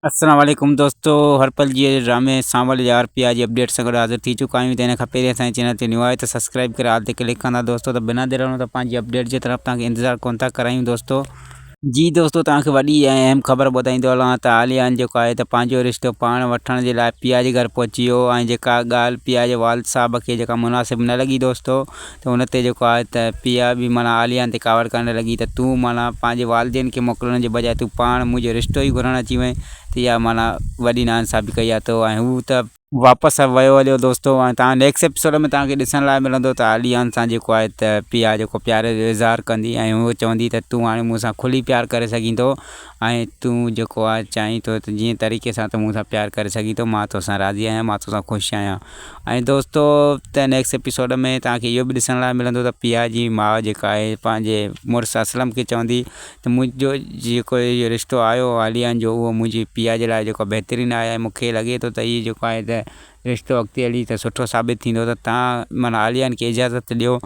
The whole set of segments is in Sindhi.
السلام عليڪم دوستو هر پل جي ڊرامي سانول جي آر پي آر جي اپڊيٽ سان گڏ حاضر ٿي چڪا آهيون ته ان کان پهرين اسان جي چينل تي نيو آهي ته سبسڪرائب ڪري آل تي ڪلڪ ڪندا دوستو ته بنا دير هلون ته پنهنجي اپڊيٽ جي طرف توهان کي انتظار ڪونه ٿا ڪرايون دوستو جي دوستو توهان کي وڏي ۽ اهم خبر ٻڌائيندو هلان ته عاليان جيڪو آهي ته پنهنجو رشتو پاڻ وٺڻ جي لاء پيا جي گهر پهچي ويو ۽ جيڪا ڳالهه پيا جي والد صاحب کي جيڪا مناسب نه لڳي دوستو ته ان تي جيڪو آهي ته پيا به معنيٰ عاليان تي ڪاوڙ ڪرڻ لڳي ته تون معنيٰ پنهنجي والدين کي موڪلڻ جي بجاء تون پاڻ منهنجو رشتو ئي گهرڻ اچي وئين ته اها معنيٰ وڏي ناانصافي ڪئي آهي تو ۽ هو ته واپس ويو هليو دوستو ۽ توهان نيڪسٽ ايپيسوڊ ۾ توهان کي ڏسڻ لاء ملندو ته عاليان سان جيڪو آهي ته پيا جيڪو پيار جو اظهار ڪندي ۽ هو چوندي ته تون هاڻي مون سان کلي پيار ڪري سگهين ٿو ۽ تون جيڪو آهي چاهين ٿو ته جنهن طريقي سان تون مون سان پيار ڪري سگهين ٿو مان توسان راضي آهيان مان توسان خوش آهيان ۽ دوستو ته نيڪسٽ ايپيسوڊ ۾ توهان کي اهو به ڏسڻ لاء ملندو ته پيا جي ماء جيڪا آهي پنهنجي مڙس اسلم کي چوندي ته منهنجو جيڪو اهو رشتو آيو عاليان جو اهو منهنجي پيا جي لاء جيڪو بهترين آهي مون کي لڳي ٿو ته هي جيڪو آهي ته رشتو اڳتي هلي ته سٺو ثابت ٿيندو ته توهان معنيٰ عاليائن کي اجازت ڏيو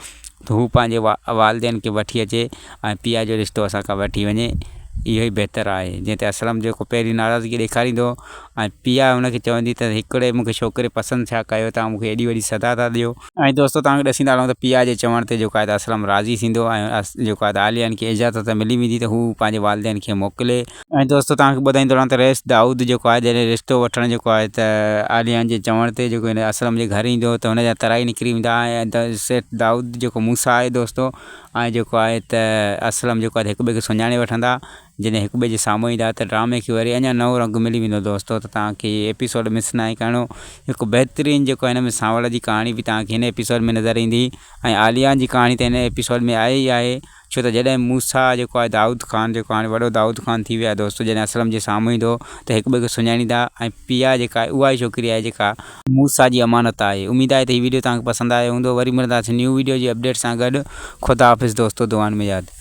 ته هو پنهنجي والدين کي وٺي اچي ۽ پيء جو رشتو اسان کان وٺي وڃي. اهو ئي بهتر آهي. جنهن تي اسلم جيڪو پهرين ناراضگي ڏيکاريندو ۽ پيء هن کي چوندي ته هڪڙي مون کي ڇوڪري پسند ڇا ڪيو توهان مون کي ايڏي وڏي سزا ٿا ڏيو. ۽ دوستو توهان کي ڏسيندا هلون ته پيء جي چوڻ تي جيڪو آهي ته اسلم راضي ٿيندو ۽ جيڪو آهي ته عاليائن کي اجازت ملي ويندي ته هو پنهنجي والدين کي موڪلي. ۽ دوستو توهان کي ٻڌائيندو رهان ته رئيس دائود جيڪو آهي جڏهن رشتو وٺڻ جيڪو آهي ته آليان جي چوڻ تي جيڪو هن اسلم جي گهر ايندو ته هن جا ترائي نڪري ويندا ۽ سيٺ دائود جيڪو موسيٰ آهي دوستو ۽ جيڪو آهي ته اسلم جيڪو آهي ته هڪ ٻئي کي سڃاڻي وٺندا جڏهن هڪ ٻئي جي سامهون ايندا ته ڊرامي کي وري اڃا نئون رنگ ملي ويندو دوستو ته توهان کي هي ايپيسوڊ مس ناهي ڪرڻو هڪ بهترين جيڪو هن ۾ سانوڻ جي ڪهاڻي به توهان کي هن ايپيسوڊ ۾ نظر ايندي ۽ آليان جي ڪهاڻي ته هن ايپيسوڊ ۾ آهي ئي آهي ڇو ته جڏهن موسيٰ جيڪو آهي دائود خان جيڪو هاڻي وڏو دائود خان ٿي ويو آهي دوستو جڏهن اسلم جي سامهون ايندو ته هڪ ٻئي کي سڃاڻيندا ۽ پيا جيڪا آهي اها ئي ڇوڪري آهي جيڪا موسيٰ جي امانت آهي اميد آهي ته هي ويڊيو توهان کي پسند آيو هوندو وري ملنداسين نيو ويڊيو جي اپڊيٽ سان گڏ خدا حافظ دوستو دعائن ۾ ياد.